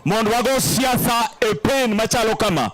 mondo wago siasa e pen machalo kama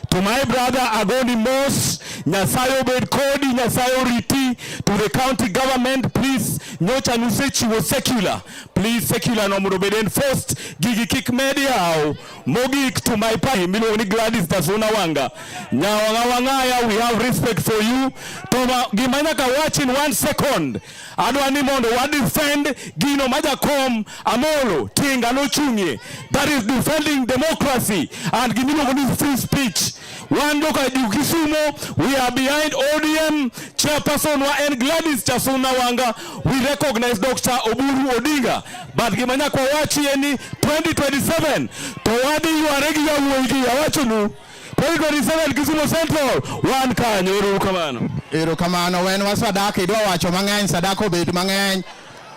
to my brother agoni mos nyasaye obed kodi nyasaye oriti to the county government please nyocha nusechiwo secular please secular no mondo obed enforced gigi kik med yawo mogik to my party miluongo ni Gladys Tasuna Wanga nyawang'awang'aya we have respect for you to gima nyaka wachi in one second adwa ni mondo wa defend gino ma jakom Amolo Tinga nochung'ie that is defending democracy and gimiluongo ni free speech. Wan joka Kisumo, we are behind ODM. Chairperson wa en Gladys Chasuna Wanga. We recognize Dr. Oburu Odinga. But gima nyaka wachi en ni 2027 to wadhi yware gi yawuoyi gi yawachonu 2027 Kisumu Central wan kanyo. Uru kamano. Uru kamano wen wa sadaka idwa wacho mang'eny sadaka obed mang'eny.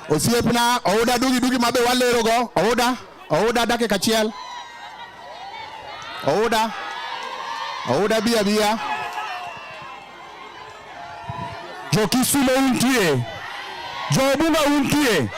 Osiepna ouda dugi dugi mabe walero go ouda ouda dakika achiel. Ouda ouda bia bia. Jo Kisumo untie. Jo Bunga untie.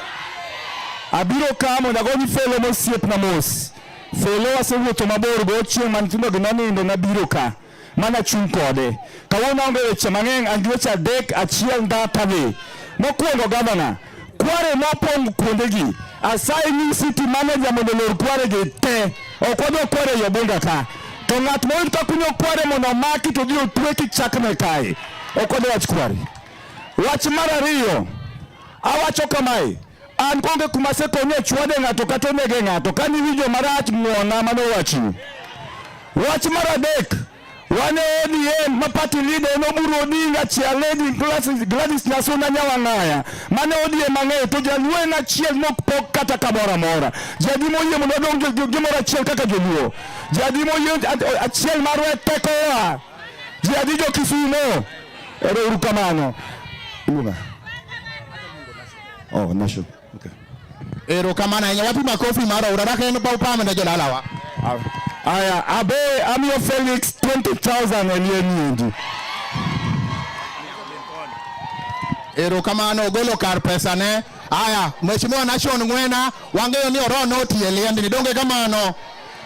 Abiro kamo dago ni felo mosiepna mos. Felo asewuotho mabor go chieng' ma nyithindo gi nonindo nabiro ka mana chung' kode. Kawuono aonge weche mang'eny, an gi weche adek, achiel ndata be. Mokwongo gavana, kware mopong' kuondegi, asayi ni city manager mondo olor kwaregi te. Ok wadwa kware ei Obunga ka. To ng'at moyud ka kunyo kware mondo omaki to odhi otwe kichakne kae. Ok wadwa wach kware. Wach mar ariyo, awacho kamae, An konge kuma asekonye chwade ng'ato kata onege ng'ato ka niwinjo marach ng'wona mano wachni. Wach mar adek wane ODM ma party leader en Oburu Odinga chia lady Gladys, Gladys Nyasuna Nyawang'aya mane ODM mang'eyo to jaluo en achiel mok pok kata kamoro amora jadi moyie mondo wadong gimoro achiel kaka joluo jadi moyie achiel marwa e tekowa jadi jo Kisumo ero uru kamano Luna. Oh, nasho. Okay. Ero kamana yenye wapi makofi mara uraraka yenu pa upame na jolalawa. Aya, abe Amio Felix 20,000 elie nyingi. Ero kamana ogolo kar pesa ne. Aya, Mheshimiwa Nashon Ngwena, wangeyo ni oro noti elie ndini. Donge kamano.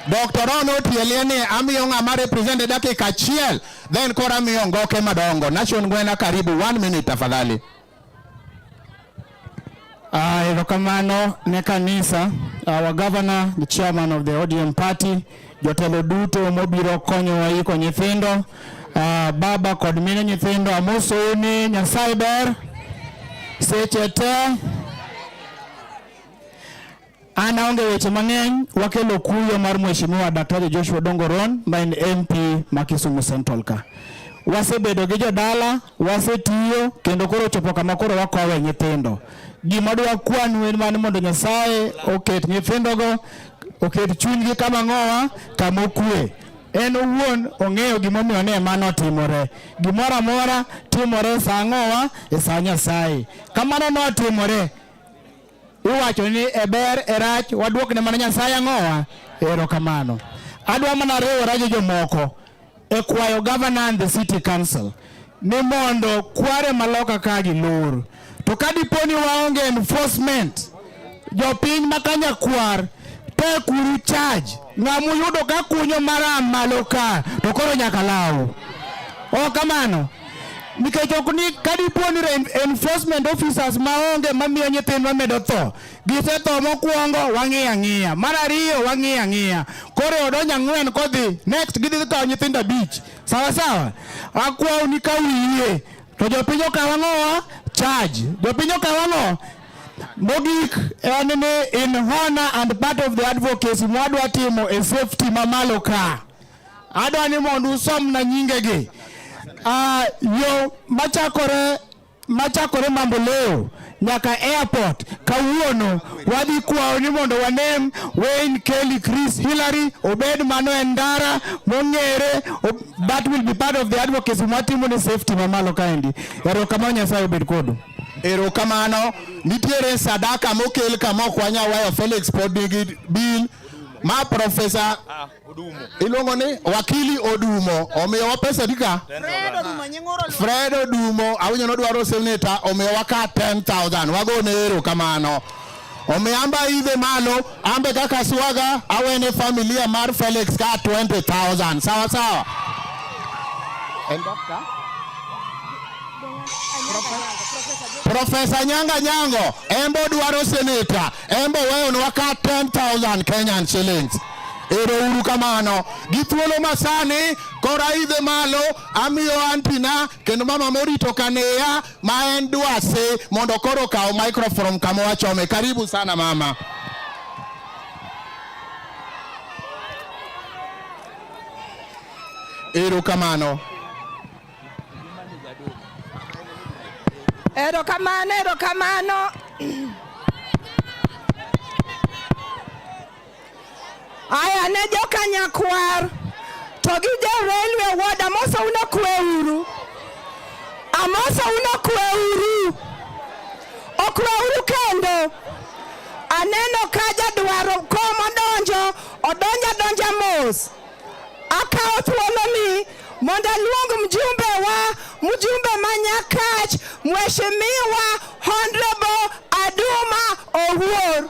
Dr. Ron Otielien ni amiyo ng'ama represent e dakika achiel then koro amiyo ngoke madongo. Nation Ngwena karibu one minute tafadhali. Ah, erokamano ne kanisa, our governor, the chairman of the ODM party, jotelo duto mobiro konyowa yiko nyithindo, ah, baba kod mine nyithindo, amosou ni Nyasaye ber seche te. An aonge weche mang'eny, wakelo kuyo mar Mheshimiwa Daktari Joshua Dongoron ma en MP ma Kisumu Central ka. Wasebedo gi jodala, wasetiyo kendo koro chopo kama koro wakowe nyithindo. Gima dwa kwanu en mani mondo Nyasaye oket nyithindogo, oket chunygi kama ng'owa, kama okue. En owuon ong'eyo gimomiyo ne mano timore. Gimoro amora timore sa ng'owa e sa Nyasaye. Kamano notimore. Iwacho ni e ber e rach waduokne mana Nyasaye ang'owa erokamano. Adwa mana riwora gi jomoko e kwayo governor and the city council ni mondo kware maloka ka gi lor to ka dipo ni waonge enforcement jopiny ma kanyakwar to kuru charge ng'amu yudo ka kunyo mara malo ka to koro nyaka law. Oh, kamano. nikech ok ni kadipo ni enforcement officers maonge mamiyo nyithindwa medo tho gisetho mokwongo wang'iyo ang'iya mar ariyo wang'iyo ang'iya koro e odonjo ang'wen kodhi next gidhi kawo nyithindo abich sawa sawa akwawu ni ka wiye to jopiny okawo ang'owa charge jopiny okawo ang'o mogik en ni in honor and part of the advocacy mwadwa timo e safety mamalo ka Adwa ni mondo usom na nyinge gi. Uh, yo machakore machakore mambo leo nyaka airport kawuono wadhi kwawo ni mondo wanem Wayne Kelly Chris Hillary obed mano en ndara mong'ere that will be part of the advocacy mwatimo ni safety mamalo kaendi erokamano Nyasaye obed kodu erokamano nitiere sadaka mokel kama ok wanya wayo Felix pod nigi bill ma profesa Odumo. Iluongo ni wakili Odumo. Omiyo wa pesa dika. Fred Odumo nyingoro. Fred Odumo awinyo no dwaro senator omiyo wa ka 10000. Wago ne ero kamano. Omiyo amba idhe malo ambe kaka swaga awene familia mar Felix ka 20000. Sawa sawa. And doctor? Profesa Nyanga Nyango embo dwaro seneta Embo weyo nwa ka 10,000 Kenyan shillings. Ero uru kamano. Gi thuolo masani koro aidhe malo amiyo antina kendo mama morito kaneya ma en dwase mondo koro kawo microphone kama wachome. Karibu sana mama. Ero kamano. Erokamano, erokamano. Aya ne jokanyakwar to gi jo railway ward amosa uno kwe uru amosa uno kwe uru okwe uru kendo aneno ka jadwaro kom odonjo odonjo adonja mos akawo thuoloni mondo aluong mjumbe wa mjumbe ma Nyakach Mheshimiwa Honorable Aduma Owuor.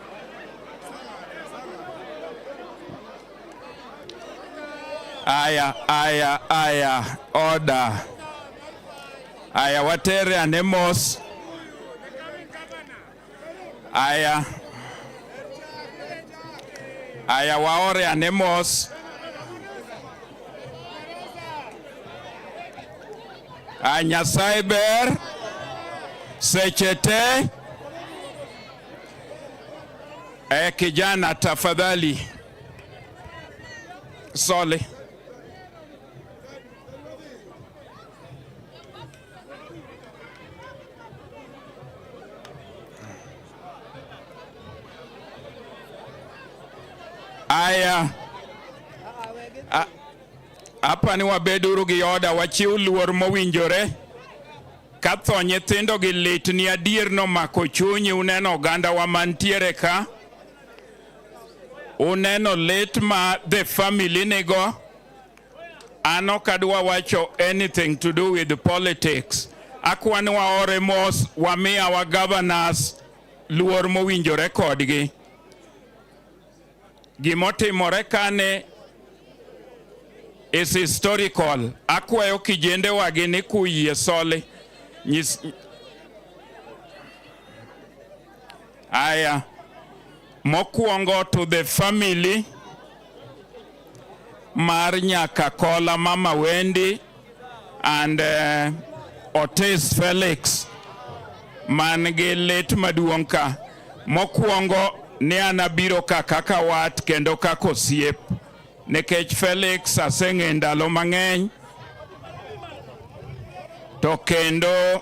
Aya, aya, aya, order. Aya, watere ane mos. Aya, aya, waore ane mos. Aya, Nyasaye ber seche te. Eh, kijana tafadhali, sole Aya, hapa ni wabeduru gi oda, wachiw luor mowinjore Ka tho nyithindo gi lit ni adier nomako chunyi, uneno ogandawa mantiere ka, uneno lit ma the family nigo. An ok adwa wacho anything to do with politics. Akwani waore mos wamiya wa governors luor mowinjore kodgi. Gimotimore kane is historical. Akwayo kijende wagi ni kuyie soli. Nyis... Aya. Mokwongo to the family mar Nyakakola Mama Wendi and uh, Otis Felix man gi lit maduong' ka mokwongo ne an abiro ka kaka wat kendo kaka osiep nikech Felix aseng'e ndalo mang'eny to kendo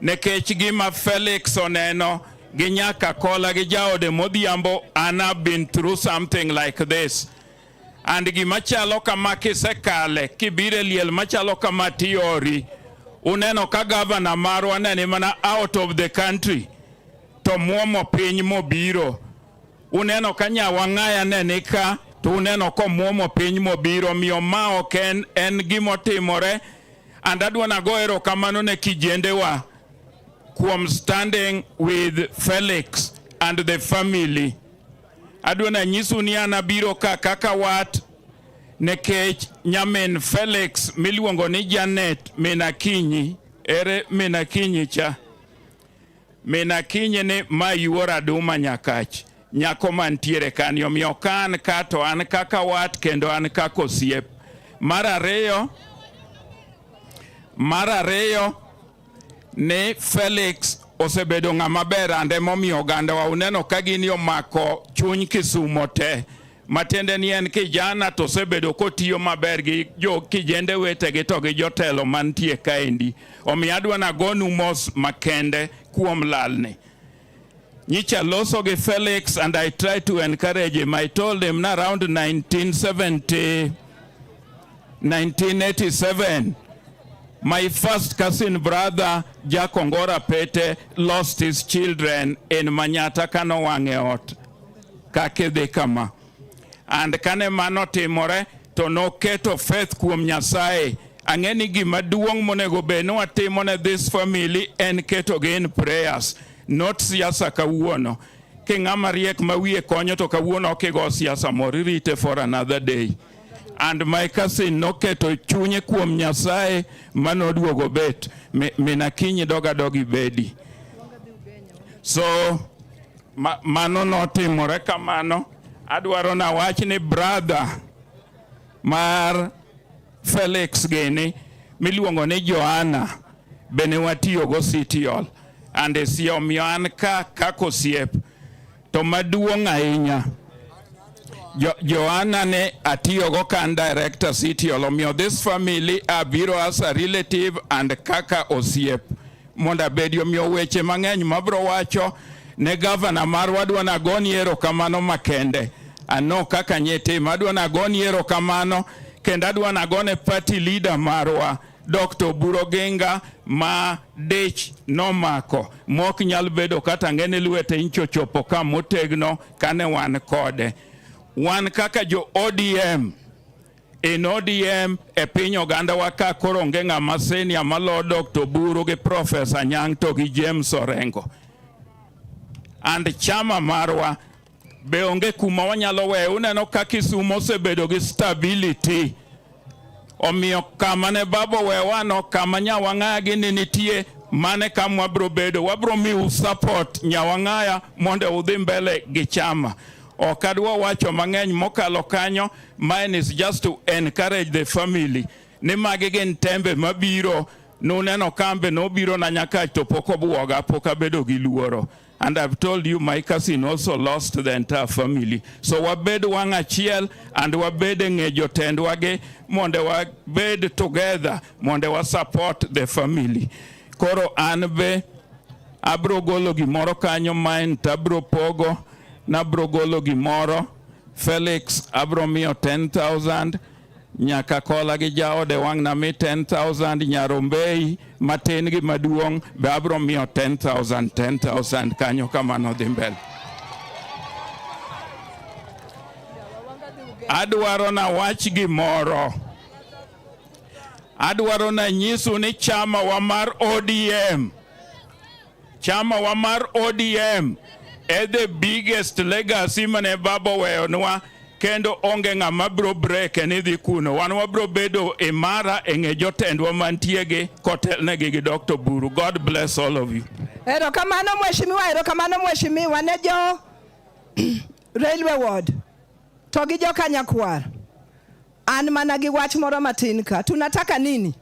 Nikech gima Felix oneno gi nyaka kola gi jaode modhiambo and have been through something like this and gima chalo kama kisekale kibire liel machalo kama tiori uneno ka gavana marwa nene mana out of the country to muomo piny mobiro uneno ka nyawang'aya ne nika to uneno komwomo piny mobiro miyo ma ok en en gimotimore And adwa nago erokamano ne kijendewa kuom standing with Felix and the family. Adwa nanyisu ni an abiro ka kaka wat nekech nyamin Felix miluongo ni Janet Minakinyi ere Minakinyi cha Min Akinyi ni ma yuor Aduma Nyakach, nyako mantiere kani, omiyo ka an ka to an kaka wat kendo an kaka osiep. Mar ariyo, mar ariyo ni Felix osebedo ng'ama ber ande momiyo ogandawa uneno ka gini omako chuny Kisumo te matiende ni en kijana to osebedo kotiyo maber gi jo kijende wetegi to gi jotelo mantie kaendi. Omiyo adwa nagonu mos makende kuom lalni. Nyicha loso gi Felix and I tried to encourage him. I told him na around 1970, 1987, my first cousin brother Jack Ongora Pete lost his children in Manyata Kano Wangeot. kaka idhi kama and kane mano timore to noketo faith kuom Nyasaye ang'e ni gima duong' monego bed ni watimo ne this family en ketogi in prayers not siasa kawuono king'ama riek ma wiye konyo to kawuono ok igo siasa moro irite for another day and my cousin noketo chunye kuom Nyasaye ma noduogo bet mi- mina kinyi doga dogi bedi so Ma, mano notimore kamano. Adwaro na wach ni brother mar Felix gini miluongo ni Joanna bene watiyogo City Hall and si omiyo an ka kaka osiep to maduong' ahinya jo, Joanna ne atiyogo ka an director City Hall omiyo this family abiro as a relative and kaka osiep mondo abedi omiyo weche mang'eny mabro wacho ne gavana marwa adwa nagoni erokamano makende ano kaka nyitima adwa nagoni erokamano kendo adwa nagone party leader marwa Dr. Oburu Oginga ma dich nomako mok nyal bedo kata ng'ene lwete inchochopo ka motegno kane wan kode wan kaka jo ODM in ODM e piny oganda wa ka koro onge ng'ama senia malo Dr. Buru gi Professor Nyang' to gi James Orengo and chama marwa be onge kuma wanyalo weyo. Uneno ka Kisumo osebedo gi stability, omiyo kama ne babo wewano kama nyawang'aya gi ni nitie mane kam wabro bedo wabro miu support nyawang'aya mondo udhi mbele gi chama Ok adwa wacho mang'eny mokalo kanyo, mine is just to encourage the family ni magi gin tembe mabiro nuneno kambe nobiro na nyakach to pok obwoga pok abedo gi luoro and I've told you my cousin also lost the entire family so wabed wang' achiel and wabed e ng'e jotendwagi mondo wabed together mondo wa support the family koro an be Abro golo gimoro kanyo main to abro pogo, nabro golo gimoro. Felix abro miyo 10,000 nyaka kola gi jaode wang' na mi 10,000 nyarombei matin gi maduong' be abro miyo 10,000 10,000 kanyo kamano dhi mbele. Adwaro na wach gimoro. Adwaro na nyisu ni chama wa mar ODM Chama wa mar ODM e the biggest legacy mane baba oweyonwa kendo onge ng'ama biro breke ni dhi kuno. Wan wabiro bedo imara e ng'e jotendwa mantiegi kotelnegi gi Dr. Buru. God bless all of you. Erokamano mheshimiwa, erokamano mheshimiwa ne jo railway ward to gi jo Kanyakwar. An mana gi wach moro matin ka. Tunataka nini?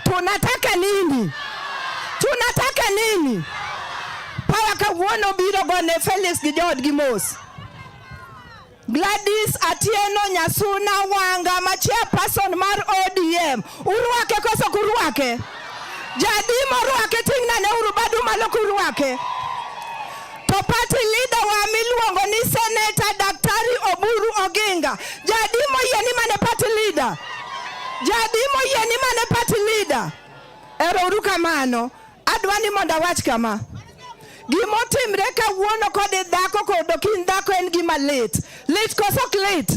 Tunataka nini? Tunataka nini? Power kawuono biro gone Felix gi joodgi mos. Gladys Atieno Nyasuna Wanga ma chairperson mar ODM. Urwake koso kurwake? Jadimo rwake ting'na ne uru badu malo kurwake. To party leader wa miluongo ni Senator Daktari Oburu Oginga. Jadi moyie ni mane party leader. Jadi moyie ni mane party leader. Ero uru kamano. Adwa ni mondo awach kama. Gima otimre kawuono kod dhako kod okin dhako en gima lit. Lit koso ok lit?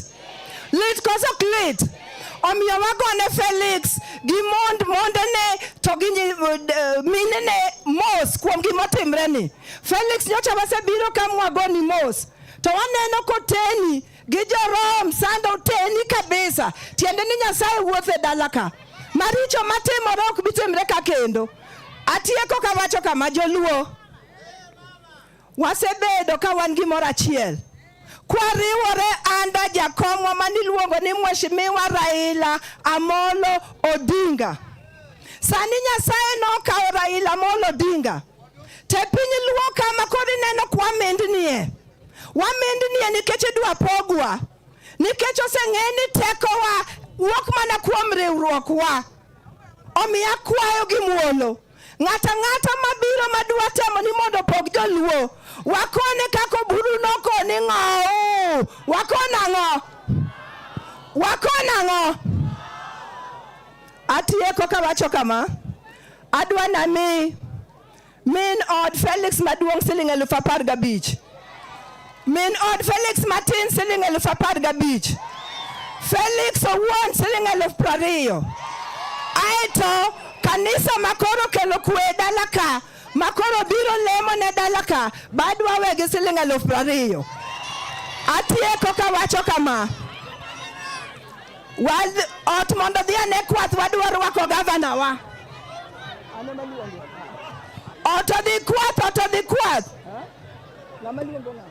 Lit koso ok lit? Omiyo wagone Felix gi mond mondene to gi eh, minene mos kuom gima otimre ni. Felix nyocha wasebiro ka Mwagoni mos to waneno koteni gi jorom sando teni kabisa, tiende ni Nyasaye wuothe dala ka maricho matimore ok bitimre ka kendo. Atieko kawacho kama, Joluo wasebedo ka wan gimoro achiel kwariwore anda jakomwa maniluongo ni Mheshimiwa Raila Amolo Odinga. Sani Nyasaye nokawo Raila Amolo Odinga Te piny luo kama kod ineno kwa mindnie. Wamindnie nikech idwa pogwa. Nikech oseng'e ni tekowa wuok mana kuom riwruokwa. Omiyo akwayo gi muolo. Ng'ata ng'ata mabiro madwa temo ni mondo opog joluo. Wakone kako buru nokoni ng'ow. Wakona ng'o. Wakona ng'o. Atieko kawacho kama. Adwa nami min od Felix maduong' siling elufu apar gabich. Min od Felix matin siling elufu apar gabich. Felix owuon siling elufu prariyo. Aeto kanisa makoro kelo kwe e dala ka makoro biro lemo ne dala ka badwa wegi siling elufu prariyo. Atieko kawacho kama. Ot mondo dhi ane kwath wadwa rwako gavana wa. Ot odhi kwath, ot odhi kwath. Ng'ama luongo ng'ama?